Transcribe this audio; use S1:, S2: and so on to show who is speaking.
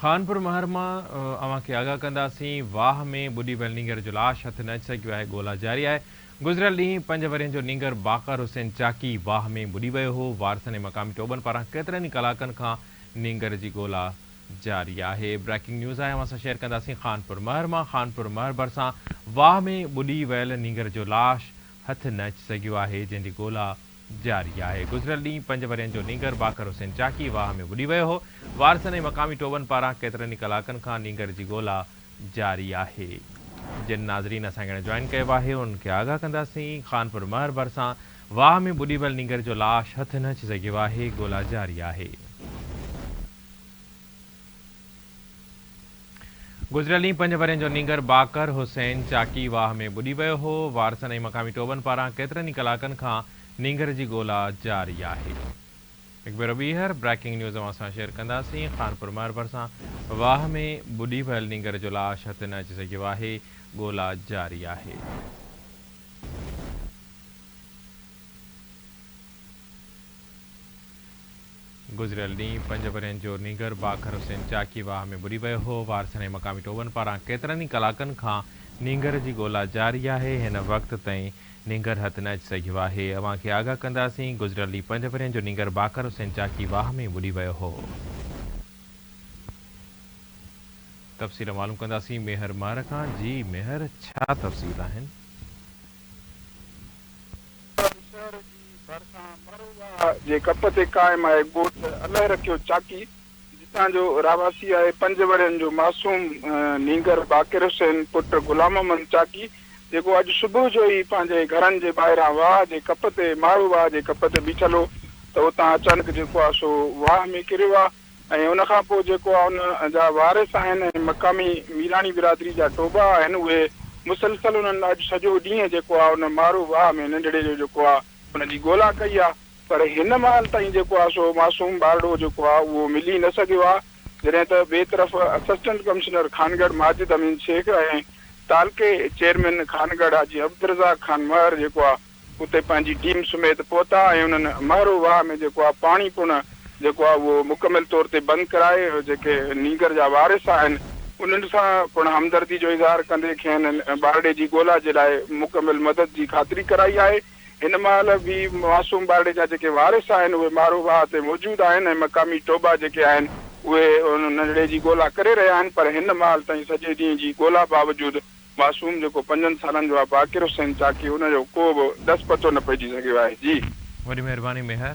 S1: خانپور مهر مان اوهان کي آگاهه ڪنداسين، واهه ۾ ٻڏي ويل نينگر جو لاش هٿ نه اچي سگهيو آهي، ڳولا جاري آهي، گذريل ڏينهن پنج ورهين جو نينگر باقر حسين چاڪي واهه ۾ ٻڏي ويو هو، وارثن ۽ مقامي ٽوٻن پاران ڪيترن ئي ڪلاڪن کان نينگر جي ڳولا جاري آهي، بريڪنگ نيوز آهي اوهان سان شيئر ڪنداسين خانپور مهر مان خانپور مهر ڀرسان واهه ۾ ٻڏي ويل نينگر جو لاش هٿ نه اچي سگهيو آهي، جنهن جي ڳولا جاري آهي. گذريل ڏينهن پنج ورهين جو نينگر باقر حسين چاڪي واهه ۾ ٻڏي ويو هو. وارثن ۽ مقامي ٽوٻن پاران ڪيترن ئي ڪلاڪن کان نينگر جي ڳولا جاري آهي. جن ناظرين اسان کي هاڻي جوائن ڪيو آهي انهن کي آگاهه ڪنداسين. خانپور مهر ڀرسان واهه ۾ ٻڏي ويل نينگر جو لاش هٿ نه اچي سگهيو آهي، ڳولا جاري آهي. گذريل ڏينهن پنج ورهين جو نينگر باقر حسين چاڪي واهه ۾ ٻڏي ويو هو، وارثن ۽ مقامي ٽوٻن پاران ڪيترن ئي ڪلاڪن کان نينگر جي ڳولا جاري آهي. هڪ ڀيرو ٻيهر بريڪنگ نيوز اوهان سان شيئر ڪنداسين، خانپور مهر ڀرسان واهه ۾ ٻڏي ويل نينگر جو لاش هٿ نه اچي سگهيو آهي، ڳولا جاري آهي. گذريل ڏينهن پنج ورهين جو نينگر باکر حسين چاڪي واهه ۾ ٻڏي ويو هو، وارثن ۽ مقامي ٽوٻن پاران ڪيترن ئي ڪلاڪن کان نينگر جي ڳولا جاري آهي، هن وقت تائين نينگر هٿ نه اچي سگهيو آهي، اوهان کي آگاهه ڪنداسين، گذريل ڏينهن پنج ورهين جو نينگر باکر حسين چاڪي واهه ۾ ٻڏي ويو هو. تفصيل معلوم ڪنداسين ميهر مهر کان، جي ميهر ڇا تفصيل آهن؟ ڪراچي شهر جي
S2: ڀرسان مروه جي ڪپ تي قائم آهي ڳوٺ الهرکيو چاڪي، جتان جو رهواسي آهي پنج ورهين جو معصوم نينگر باقر حسين پٽ غلام محمد چاڪي، جيڪو اڄ صبح جو ئي پنهنجي گهرن جي ٻاهران واهه جي ڪپ تي ماروه جي ڪپ تي بيٺل هو ته اتان اچانڪ جيڪو آهي سو واهه ۾ ڪريو آهي. ۽ ان کان پوء جيڪو ان جا وارث آهن ۽ مقامي ميراڻي برادري جا ٽوٻا آهن اهي مسلسل انهن اڄ سڄو ڏينهن جيڪو آ ان مارو واهه ۾ ننڍڙي جو جيڪو آ ان جي ڳولا ڪئي آ پر هن مهل تائين جيڪو آ سو معصوم ٻارڙو جيڪو آ اهو ملي نه سگهيو آ جڏهن ته ٻئي طرف اسسٽنٽ ڪمشنر خانڳڙهه ماجد امين شيخ ۽ تعلقي چيئرمين خانڳڙهه حاجي عبدالرزاق خان مهر جيڪو آ اتي پنهنجي ٽيم سميت پهتا ۽ انهن مهرو واهه ۾ جيڪو آهي پاڻي پڻ جيڪو آهي اهو مڪمل طور تي بند ڪرائي جيڪي نينگر جا وارث آهن انهن سان پڻ همدردي جو اظهار ڪندي کين ٻارڙي جي ڳولا جي لاء مڪمل مدد جي خاطري ڪرائي آهي هن مهل به معصوم ٻارڙي جا جيڪي وارث آهن اهي مهرو واهه تي موجود آهن ۽ مقامي ٽوٻا جيڪي آهن اهي ننڍڙي جي ڳولا ڪري رهيا آهن پر هن مهل تائين سڄي ڏينهن جي ڳولا باوجود معصوم جيڪو پنجن سالن جو آ باقر حسين چاڪي ان جو
S1: ڪو
S2: به ڏس پتو نه پئجي سگهيو آهي جي. وڏي مهرباني ميهر.